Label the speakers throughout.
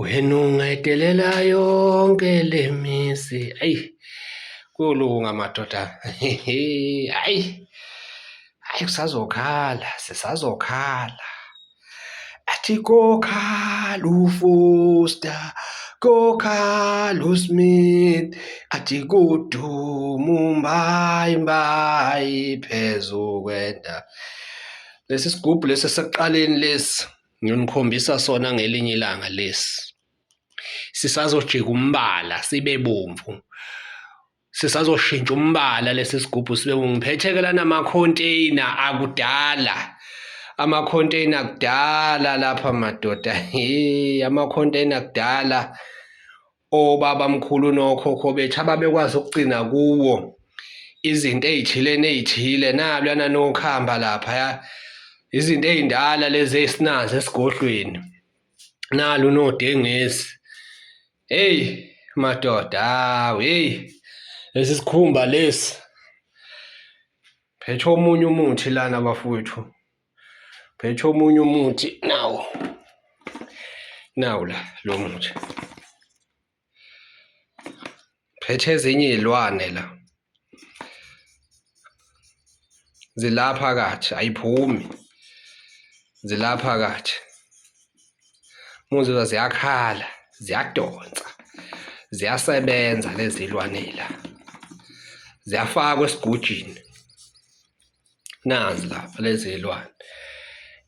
Speaker 1: Wena ungayidelela yonke le misi ayi kuyolunga madoda ayi ayi kusazokhala sisazokhala athi kokhala ufoster kokhala usmith athi kuduma umbayi mbayi phezu kwenda lesi sigubhu lesi sekuqaleni lesi Ngiyonikhombisa sona ngelinye ilanga lesi. Sisazojika umbala sibe bomvu. Sisazoshintsha umbala lesi sigubhu sibe bomvu. Ngiphethe-ke lana ama-container akudala. Ama-container akudala lapha madoda. Hheyi ama-container akudala. obabamkhulu nokhokho bethu ababekwazi ukugcina kuwo izinto ey'thile ney'thile naluyana nokhamba lapha ya izinto ey'ndala lezi esinazo esigodlweni nalu nodengezi heyi madoda hawu heyi lesi sikhumba lesi phethe omunye umuthi lana bafowethu Phethe omunye umuthi nawo. Nawu la lo muthi. Phethe ezinye izilwane la. Zilapha kathi ayiphumi. Zilapha kathi. Muzwa ziyakhala, ziyadonsa. Ziyasebenza lezi zilwane la. Ziyafakwa esigujini. nazi lapha lezi zilwane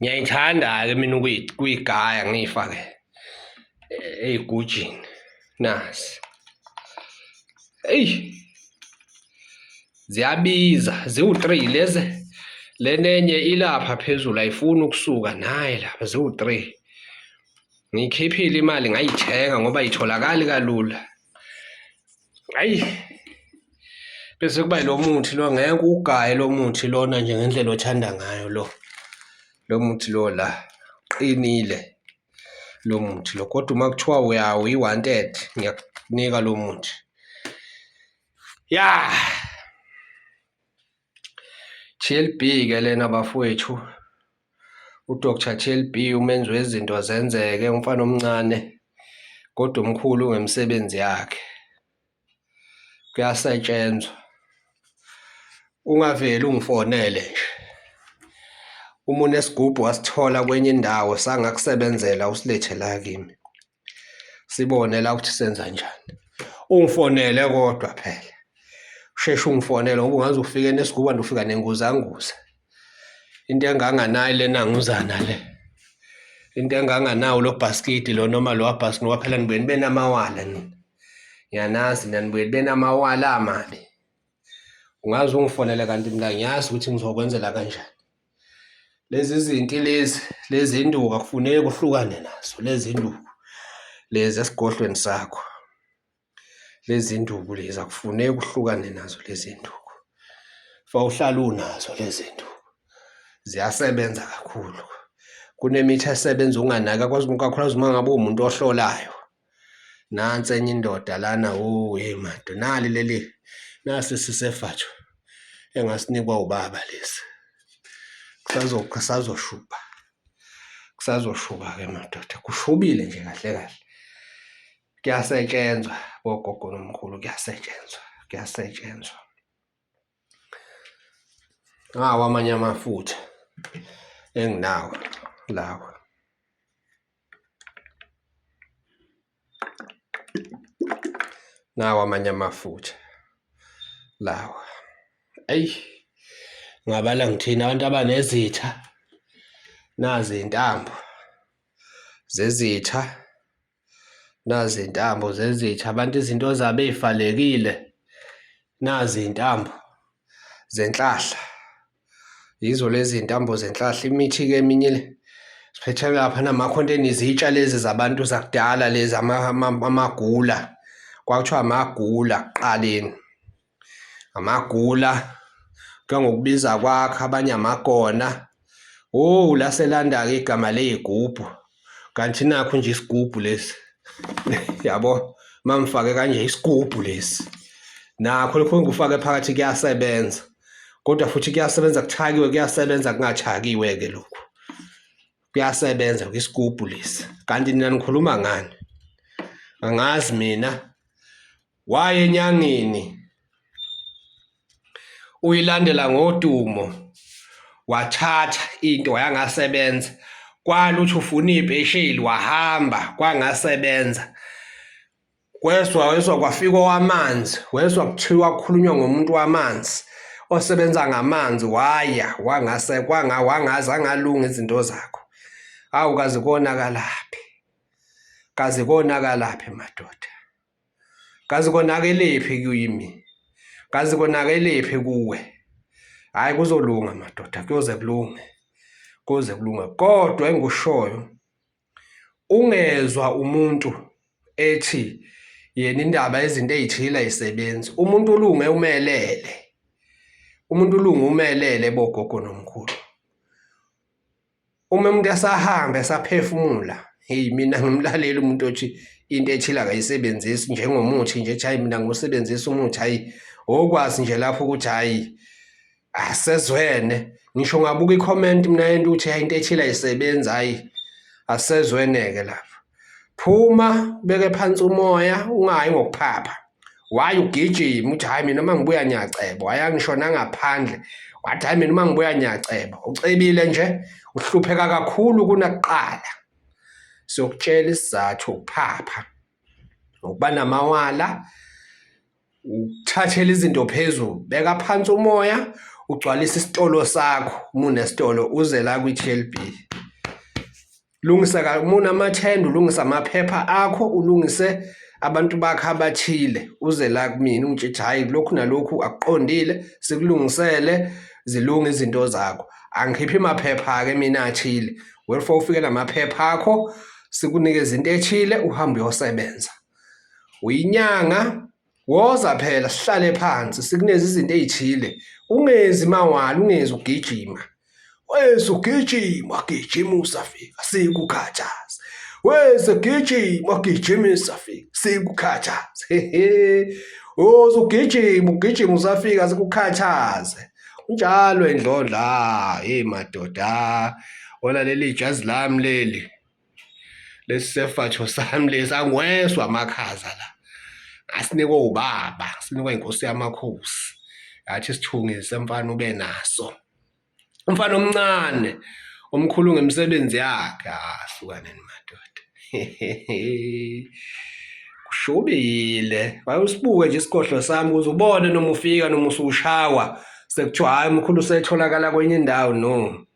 Speaker 1: ngiyayithanda-ke mina ukuyigaya ngiyifake eh, eyigujini nazi eyi ziyabiza ziwu-three lezi lenenye ilapha phezulu ayifuni ukusuka naye lapha ziwu-three ngiyikhiphile imali ngayithenga ngoba itholakali kalula hayi bese kuba lo muthi lo ngeke ugaye lo muthi lona nje ngendlela othanda ngayo lo lo muthi lo la qinile lo muthi lo kodwa uma kuthiwa uyawo i-wanted ngiyakunika lo muthi ya GLB ke lena bafowethu uDr GLB umenzi wezinto zenzeke umfana omncane kodwa umkhulu ngemisebenzi yakhe kuyasetshenzwa ungaveli ungifonele nje uma unesigubhu wasithola kwenye indawo sangakusebenzela usilethe la kimi sibone la ukuthi senza njani ungifonele kodwa phela usheshe ungifonele ngoba ungaze ufike nesiguba ndofika nenguzanguza into enganganayo lena nguzana le into enganganawo lo bhaskidi lo noma lo wabhaskidi ngoba phela nibuye nibe namawala nina ngiyanazi nina nibuye nibe namawala amabi ungaze ungifonele kanti mina ngiyazi ukuthi ngizokwenzela kanjani lezi zinti lezi lezi induku akufuneki uhlukane nazo lezi induku lezi esigodlweni sakho lezi induku lezi akufuneki uhlukane nazo lezi induku fa uhlala unazo lezi induku ziyasebenza kakhulu kunemithi esebenza unganaka kwazi kakhulukazi uma ngabe uwumuntu ohlolayo nansi enye indoda lana oh hey mado nali leli nasi sisefatsho engasinikwa ubaba lesi kusazoqha sazoshuba kusazoshuba ke madoda kushubile nje kahle kahle kuyasetshenzwa bogogo nomkhulu kuyasetshenzwa kuyasetshenzwa ngawo amanye amafutha enginawo lawa nawo amanye amafutha lawa eyi ngabala ngithina abantu abanezitha nazi intambo zezitha Nazi intambo zezitha abantu izinto zabo ey'valekile. Nazi iy'ntambo zenhlahla. Yizo lezi ntambo zenhlahla imithi-ke eminye le siphethe lapha namakhonteni izitsha lezi zabantu zakudala lezi amagula kwakuthiwa amagula ekuqaleni. amagula kuthiwa ngokubiza kwakho abanye amakona owu laselanda-ke igama ley'gubhu kanti nakho nje isigubhu lesi yabo mangifake kanje isigubhu lesi nakho lokho ngikufake phakathi kuyasebenza kodwa futhi kuyasebenza kuthakiwe kuyasebenza kungathakiwe-ke lokhu kuyasebenza kwisigubhu lesi kanti nina nikhuluma ngani angazi mina Waye enyangeni uyilandela ngodumo wathatha into wayangasebenza kwala uthi ufuna iy'pesheli wahamba kwangasebenza kwezwa wezwa kwafika owamanzi wezwa kuthiwa kukhulunywa ngomuntu wamanzi osebenza ngamanzi waya wangase kwanga wangaze angalunga izinto zakho awu kaze konakalaphi kaze konakalaphi madoda kazi konakelephi kuyimi kazi konakelephi kuwe hayi kuzolunga madoda kuyoze kulunge kuze kulunga kodwa engikushoyo ungezwa umuntu ethi yena indaba izinto ezithile ayisebenzi umuntu ulunge umelele umuntu ulunge umelele bogogo nomkhulu uma umuntu esahamba esaphefumula hey mina ngimlaleli umuntu othi into ethile akayisebenzisi njengomuthi nje hayi mina ngosebenzisa umuthi hayi okwazi nje lapho ukuthi hayi asezwene ngisho ngabuka i-comment mina yento ukuthi hayi into ethile ayisebenzi hayi asezweneke lapho phuma beke phansi umoya ungayi ngokuphapha waye ugijima uthi hayi mina uma ngibuya ngiyaceba wayangishona ngaphandle wathi hayi mina uma ngibuya ngiyaceba ucebile nje uhlupheka kakhulu kunakuqala siyokutshela isizathu ukuphapha ngokuba namawala ukuthathela izinto phezulu beka phansi umoya ugcwalise isitolo sakho uma unesitolo uze la kwi-tlb lungisa uma unamathenda ulungise amaphepha akho ulungise abantu bakho abathile uze la kumina ungitshe ukuthi hhayi lokhu nalokhu akuqondile sikulungisele zilunge izinto zakho angikhiphi maphepha-ke mina athile welfare ufike namaphepha akho sikunikeza into ethile uhambe uyosebenza uyinyanga woza phela sihlale phansi sikuneze izinto ezithile ungenzi mawala ungenzi ugijima wese ugijima gijima usafika sikukhathaza wese gijima gijima usafika sikukhathaza hehe woza ugijima ugijima usafika sikukhathaze njalo endlondla hey madoda wona leli jazi lami leli lesi sefatsho sami lesi angweswa amakhaza la asinikwe ubaba sinikwe inkosi yamakhosi yathi sithungise mfana ube naso umfana omncane omkhulu ngemisebenzi yakhe ahlukaneni ah, madoda kushubile wayusibuke nje isikhohlo sami kuze ubone noma ufika noma usushawa sekuthiwa hhayi umkhulu usetholakala kwenye indawo no